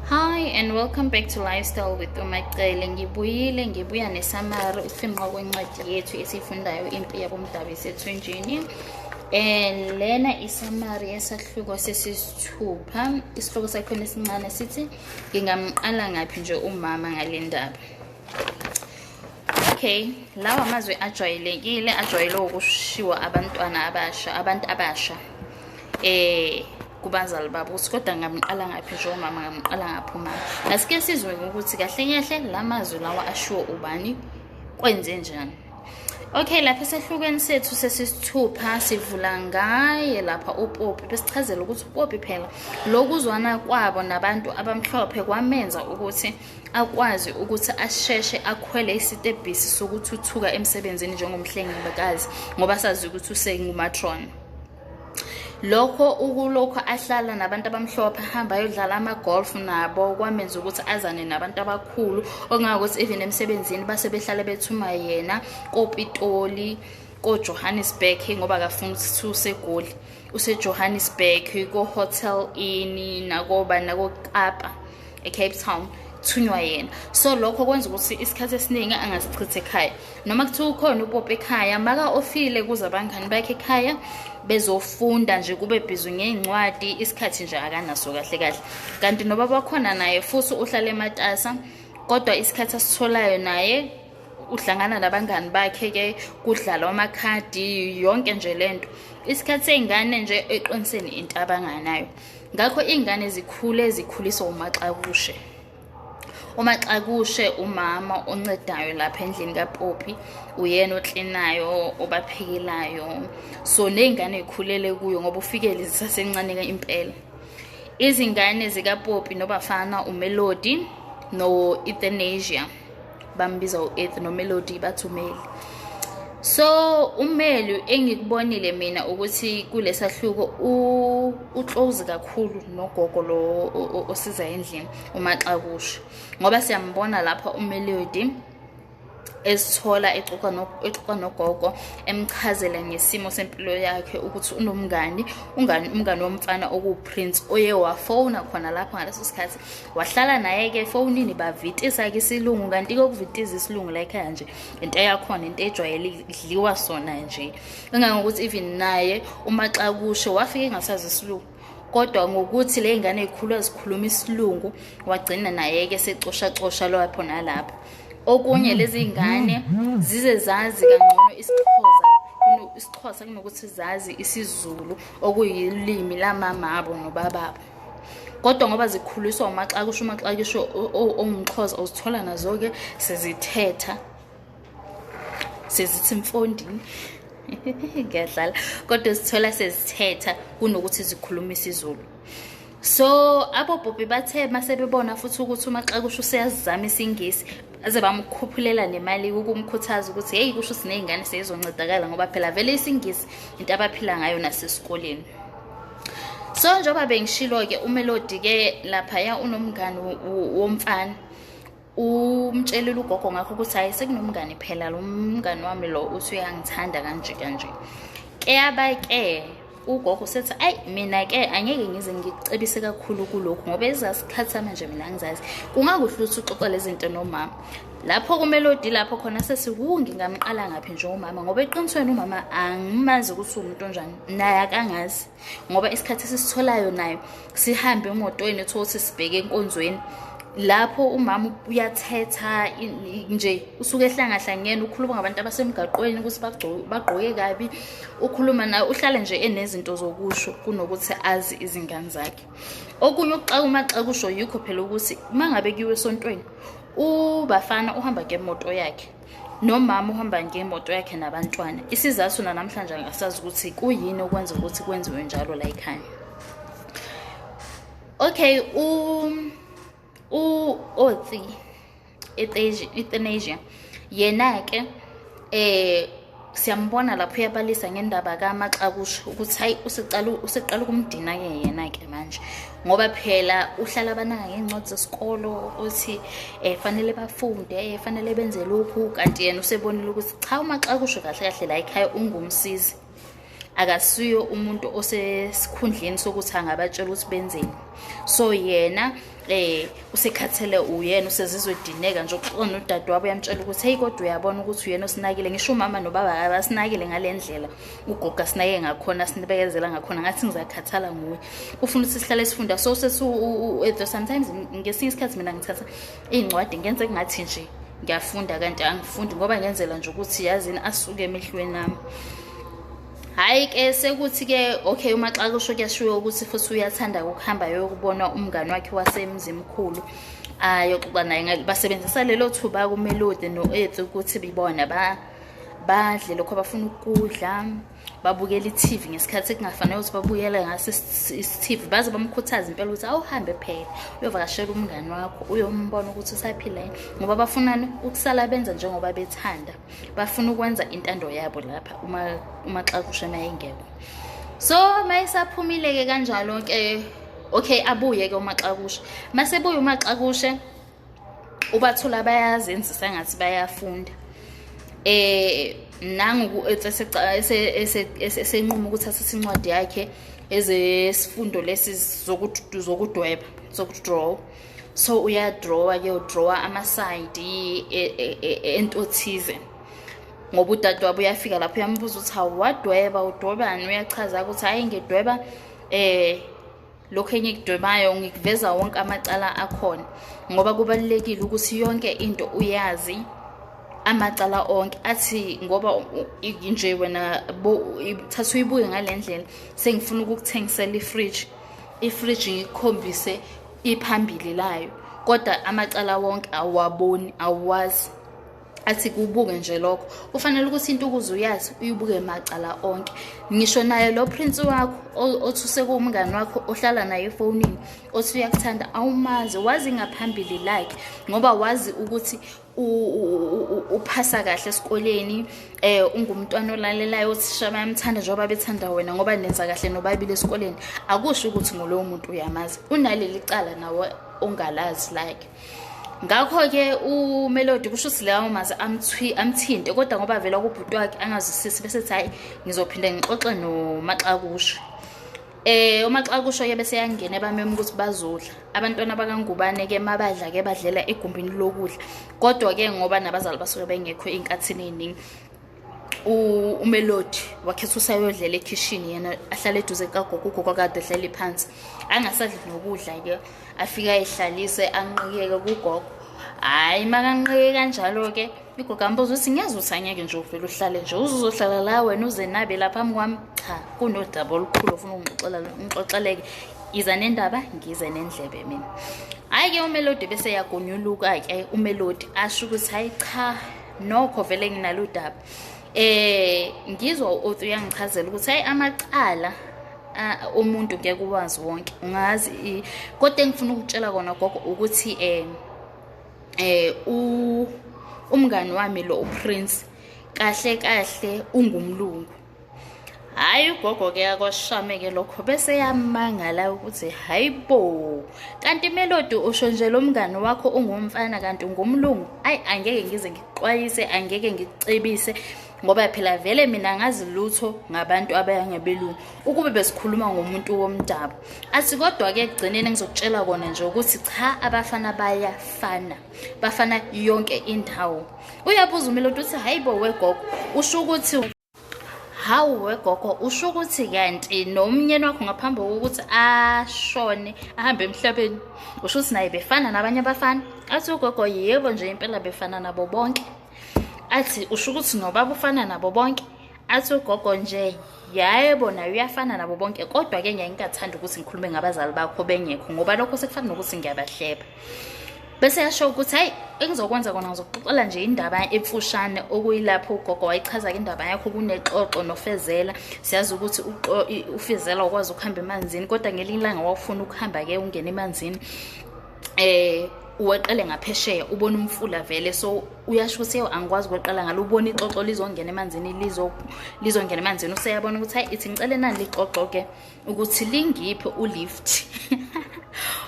Hi and welcome back to Lifestyle with Umacele. Ngibuyile ngibuya nesamari ukufinqa kwencwadi yethu esifundayo impi yabomdabu isethunjini. Um lena isamari yesahluko sesisithupha isihloko sakhona esincane sithi ngingamqala ngaphi nje umama ngale ndaba okay lawa amazwi ajwayelekile ajwayele ukushiwa abantwana abasha abantu abasha eh kubazali babo ukuthi kodwa ngamqala ngaphi njengomama ngamqala ngaphi uma asike sizwe ukuthi kahle kahle la mazwi lawa ashiwo ubani kwenze njani okay lapha esehlukweni sethu sesisithupha sivula ngaye lapha upopi besichazela ukuthi upopi phela lokuzwana kwabo nabantu abamhlophe kwamenza ukuthi akwazi ukuthi asheshe akhwele isitebhisi sokuthuthuka emsebenzini njengomhlengikazi ngoba sazi ukuthi usengumatron lokho ukulokho ahlala nabantu abamhlophe ahamba ayodlala ama-golf nabo kwamenza ukuthi azane nabantu abakhulu okungangokuthi even emsebenzini base behlale bethuma yena kopitoli kojohannesburg ngoba akafuni ukuthi usegoli usejohannesburg kohotel ini nakoba nakokapa ko ecape town thunywa yena so lokho kwenza ukuthi isikhathi esiningi angasichithe ekhaya noma kuthiwa ukhona upope ekhaya maka ofile kuze abangani bakhe ekhaya bezofunda nje kube bhizi ngey'ncwadi isikhathi nje akanaso kahle kahle kanti noba bakhona naye futhi uhlale ematasa kodwa isikhathi asitholayo naye uhlangana nabangani bakhe ke kudlalwa amakhadi yonke nje lento isikhathi seyingane nje eqiniseni into abanganayo ngakho iy'ngane zikhule zikhuliswa umaxakushe umaxakushe umama oncedayo lapha endlini kapopi uyena oklinayo obaphekelayo so ney'ngane y'khulele kuyo ngoba ufikele zisasencane impela izingane zikapopi nobafana umelodi no-ethanasia bambiza u-ethnomelody bathi umeli so umeli engikubonile mina ukuthi kulesahluko uclose kakhulu nogogo lo osiza endlini umaxakusha ngoba siyambona lapha umelody ezithola exoxa nogogo emchazela ngesimo sempilo yakhe ukuthi unomngani ungani umngani womfana okuwuprince oye wafona khona lapho ngaleso sikhathi wahlala naye ke efonini bavitisa ke isilungu kanti ke ukuvitiza isilungu la ekhaya nje into yakhona into ejwayele idliwa sona nje engangokuthi even naye uma xa kusho wafike engasazi isilungu kodwa ngokuthi le ngane ikhulwa zikhuluma isilungu wagcina naye ke secoshacosha lwapho nalapho okunye lezi ngane zize zazi kangcono isixhosa isixhosa kunokuthi zazi isizulu okuyilimi lamamabo nobababo kodwa ngoba zikhuliswa umaxakisho umaxakisho ongumxhoza uzithola nazo-ke sezithetha sezithi mfondini ngiyadlala kodwa uzithola sezithetha kunokuthi zikhulume isizulu so abobhobhi bathe uma sebebona futhi ukuthi umaxakusho useyazizama isingisi aze bamkhuphulela nemali ukumkhuthaza ukuthi heyi kusho siney'ngane seyizoncedakala ngoba phela vele isingisi into abaphila ngayo nasesikoleni so njengoba bengishilo-ke umelodi-ke laphaya unomngani womfana umtshelile ugogo ngakho ukuthi hayi sekunomngani phela lo mngani wami lo uthi uyangithanda kanje kanje keyaba-ke ugogo sethi ayi mina-ke angeke ngize ngicebise kakhulu kulokhu ngoba ezasikhathi samanje mina ngizazi kungakuhle ukuthi uxoxa lezi zinto nomama lapho kumelodi lapho khona sesiwu ngingamqala ngaphi njengomama ngoba eqinisweni umama angimazi ukuthi uwumuntu onjani naye akangazi ngoba isikhathi esisitholayo nayo sihambe emotweni uthole ukuthi sibheke enkonzweni lapho umama uyathetha nje usuke ehlangahlangene ukhuluma ngabantu abasemgaqweni ukuthi bagqoke kabi ukhuluma naye uhlale nje enezinto zokusho kunokuthi azi izingane zakhe okunye ukuxakuma xa kusho yikho phela ukuthi uma ngabe kuyiwe esontweni ubafana uhamba ngemoto yakhe nomama uhamba ngemoto yakhe nabantwana isizathu nanamhlanje angasazi ukuthi kuyini okwenza ukuthi kwenziwe njalo la ekhaya okay u u otsi ethenasia yena-ke eh siyambona lapho uyabalisa ngendaba kamaxakusha ukuthi hayi useqala ukumdina-ke yena-ke manje ngoba phela uhlala abanaka ngey'ncwadi zesikolo ukuthi um fanele bafunde um fanele benze lokhu kanti yena usebonile ukuthi cha umaxakusha kahle kahle la ekhaya ungumsizi akasuyo umuntu osesikhundleni sokuthi angabatshela ukuthi benzeni so yena eh usekhathele uyena usezizwe edineka nje uxona udade wabo uyamtshela ukuthi hey kodwa uyabona ukuthi uyena osinakile ngisho umama nobaba abasinakile ngalendlela ugogo asinake ngakhona sinibekezela ngakhona ngathi ngizakhathala nguwe ufuna ukuthi sihlale sifunda so sesu sometimes ngesinye isikhathi mina ngithatha iy'ncwadi ngenze kungathi nje ngiyafunda kanti angifundi ngoba ngenzela nje ukuthi yazini asuke emehlweni ami hhayi ke sekuthi-ke okay uma xa kusho kuyashiwo ukuthi futhi uyathanda ukuhamba yokubona umngani wakhe wasemzimkhulu ayoxoxa naye basebenzisa lelo thuba kumelodi no-eth ukuthi bibona badle lokho abafuna ukudla babukela i-TV ngesikhathi kungafanele ukuthi babuyele ngaso i-TV baze bamkhuthaze impela ukuthi awuhambe phela uyovakashela umngani wakho uyombona ukuthi usaphila yini ngoba bafunani ukusala benza njengoba bethanda bafuna ukwenza intando yabo lapha uma uma xakushe mayengekho so mayisaphumile-ke kanjalo-ke okay abuye-ke umaxakushe masebuye umaxakushe ubathola bayazenzisa ngathi bayafunda eh nangu esenquma ukuthi asise incwadi yakhe ezesifundo lesi zokudweba zokudraw so uyadrawa ke udrawa amasayidi e, e, e, ento thize ngoba udade wabo uyafika lapho uyambuza ukuthi hawu wadweba udwebani uyachaza ukuthi hhayi ngidweba um lokhu engikudwebayo ngikuveza wonke amacala akhona ngoba kubalulekile ukuthi yonke into uyazi amacala onke athi ngoba nje wena thatha uyibuke ngale ndlela sengifuna ukukuthengisela ifridge ifridge ngikukhombise iphambili layo kodwa amacala wonke awaboni awazi athi kubuke nje lokho kufanele ukuthi into ukuze uyazi uyibuke macala onke ngisho naye lo prince wakho othi usekuwumngani wakho ohlala naye efonini othi uyakuthanda awumazi wazi ngaphambili like ngoba wazi ukuthi uphasa kahle esikoleni eh ungumntwana olalelayo othisha bayamthanda njengoba bethanda wena ngoba nenza kahle nobabili esikoleni akusho ukuthi ngulowo muntu uyamazi unaleli cala nawe ongalazi like ngakho-ke umelodi kusho ukuthi lawo maze amthinte kodwa ngoba vela kubhuti wakhe angazwisisi bese thi hhayi ngizophinde ngixoxe nomaxakusho Eh uma xa kusho ke bese yangena ebamema ukuthi bazodla. Abantwana bakangubane ke mabadla ke badlela egumbini lokudla. Kodwa ke ngoba nabazali basuke bengekho inkathini eziningi. umelodi wakhetha usayodlela ekhishini yena ahlale eduze kagogo ugogo kade ehleli phansi angasadli nokudla ke afike ayihlalise anqikeke kugogo hhayi makanqike kanjalo-ke igogo ambuza ukuthi ngiyeza ukuthi angeke nje uvele uhlale nje uzuzohlala la wena uzenabe la phambi kwami cha kunodaba olukhulu ofuna ungixoxeleke iza nendaba ngize nendlebe mina hhayi-ke umelodi bese yagonyuluka-ke umelodi asho ukuthi hhayi cha nokho vele nginalo udaba eh ngizwa uthi uyangichazela ukuthi hayi amacala umuntu ngeke uwazi wonke ungazi kodwa engifuna ukutshela kona gogo ukuthi eh eh umngani wami lo uPrince kahle kahle ungumlungu hhayi ugogo ke akwashame ke lokho bese yamangala ukuthi hayi bo kanti melodi usho nje lo mngani wakho ungumfana kanti ungumlungu ayi angeke ngize ngikuxwayise angeke ngikucebise ngoba phela vele mina ngazi lutho ngabantu abayangebelungu ukube besikhuluma ngomuntu womdabu athi kodwa-ke ekugcineni ngizokutshela kona nje ukuthi cha abafana bayafana bafana yonke indawo uyabuza umelodi uthi hayi bo wegogo usho ukuthi hawu wegogo usho ukuthi kanti nomnyeni wakho ngaphambi kokuthi ashone ahambe emhlabeni usho ukuthi naye befana nabanye abafana athi ugogo yebo nje impela befana nabo bonke athi usho ukuthi nobaba ufana nabo bonke athi ugogo nje yebo naye uyafana nabo bonke kodwa-ke ngiyaye ngingathanda ukuthi ngikhulume ngabazali bakho bengekho ngoba lokho sekufana nokuthi ngiyabahleba bese yasho ukuthi hayi engizokwenza kona ngizokuxoxela nje indaba emfushane okuyilapho ugogo wayichaza-ke indaba yakho kunexoxo nofezela siyazi ukuthi ufezela ukwazi ukuhamba emanzini kodwa ngelinye ilanga wawufuna ukuhamba-ke ungena emanzini um uweqele ngaphesheya ubona umfula vele so uyasho ukuthi yewu angikwazi ukweqela ngalo ubona ixoxo lizongena emanzini lizongena emanzini useyabona ukuthi hayi ithi ngicele nani lixoxo-ke ukuthi lingiphi ulift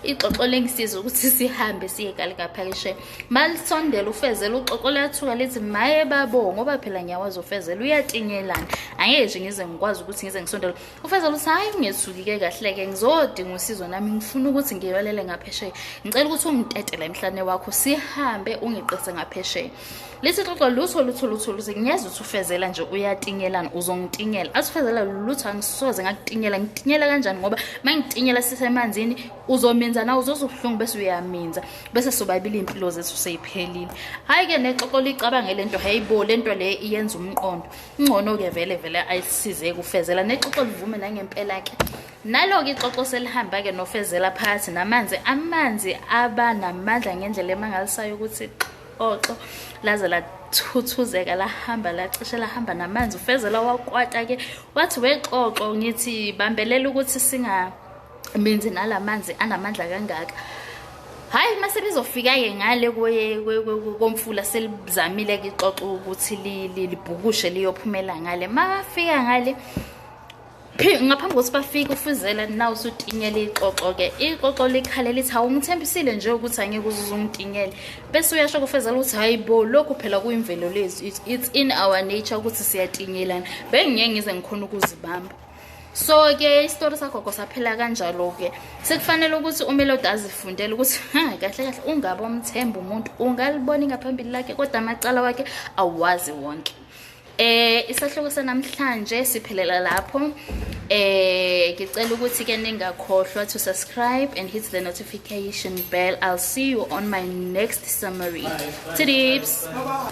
ixoxo lengisiza ukuthi sihambe siye kalikaphakishe malisondela ufezela uxoxo lathuka lithi maye babo ngoba phela ngiyawazi ufezela uyatinyelana angeke nje ngize ngikwazi ukuthi ngize ngisondela ufezela ukuthi hhayi ungethukike kahle-ke ngizodinga usizo nami ngifuna ukuthi ngiyolele ngaphesheya ngicela ukuthi ungitetele emhlane wakho sihambe ungiqise ngaphesheya lesi xoxo lutho lutho lutho luze ngiyeza ukuthi ufezela nje uyatingelana uzongitingela asifezela lutho angisoze ngakutingela ngitinyela kanjani ngoba uma ngitinyela sisemanzini uzominza nawe uzozubuhlungu bese uyaminza bese sobabili iy'mpilo zethu seyiphelile hhayi-ke nexoxo licabange le nto hayibo le nto le iyenza umqondo ingcono-ke vele vele ayisizeke ufezela nexoxo livume nangempela-ke nalo-ke ixoxo selihamba-ke nofezela phakathi namanzi amanzi aba namandla ngendlela emangalisayo ukuthi oxo laze lathuthuzeka lahamba lacishe lahamba namanzi ufezela wakwata ke wathi wexoxo ngithi bambelela ukuthi singamenzi nalamanzi anamandla kangaka hayi uma sebezofika-ke ngale komfula selizamile-ke ixoxo ukuthi libhukushe liyophumela ngale uma bafika ngale ngaphambi kokuthi bafike ufuzela naw usutinyela ixoxo-ke ixoxo likhale lithi hawu ngithembisile nje ukuthi angeke uzuze ungitinyele bese uyasho kufezela ukuthi hhayi bo lokhu phela kuyimvelo lethu it's in our nature ukuthi siyatinyelana bengingeke ngize ngikhona ukuzibamba so ke isitori sagogo saphela kanjalo ke sekufanele ukuthi umelodi azifundele ukuthi ha kahle kahle ungabe omthemba umuntu ungaliboni ngaphambili lakhe kodwa amacala wakhe awazi wonke Eh isahluko sanamhlanje siphelela lapho. Eh ngicela ukuthi ke ningakhohlwa to subscribe and hit the notification bell. I'll see you on my next summary. Tips.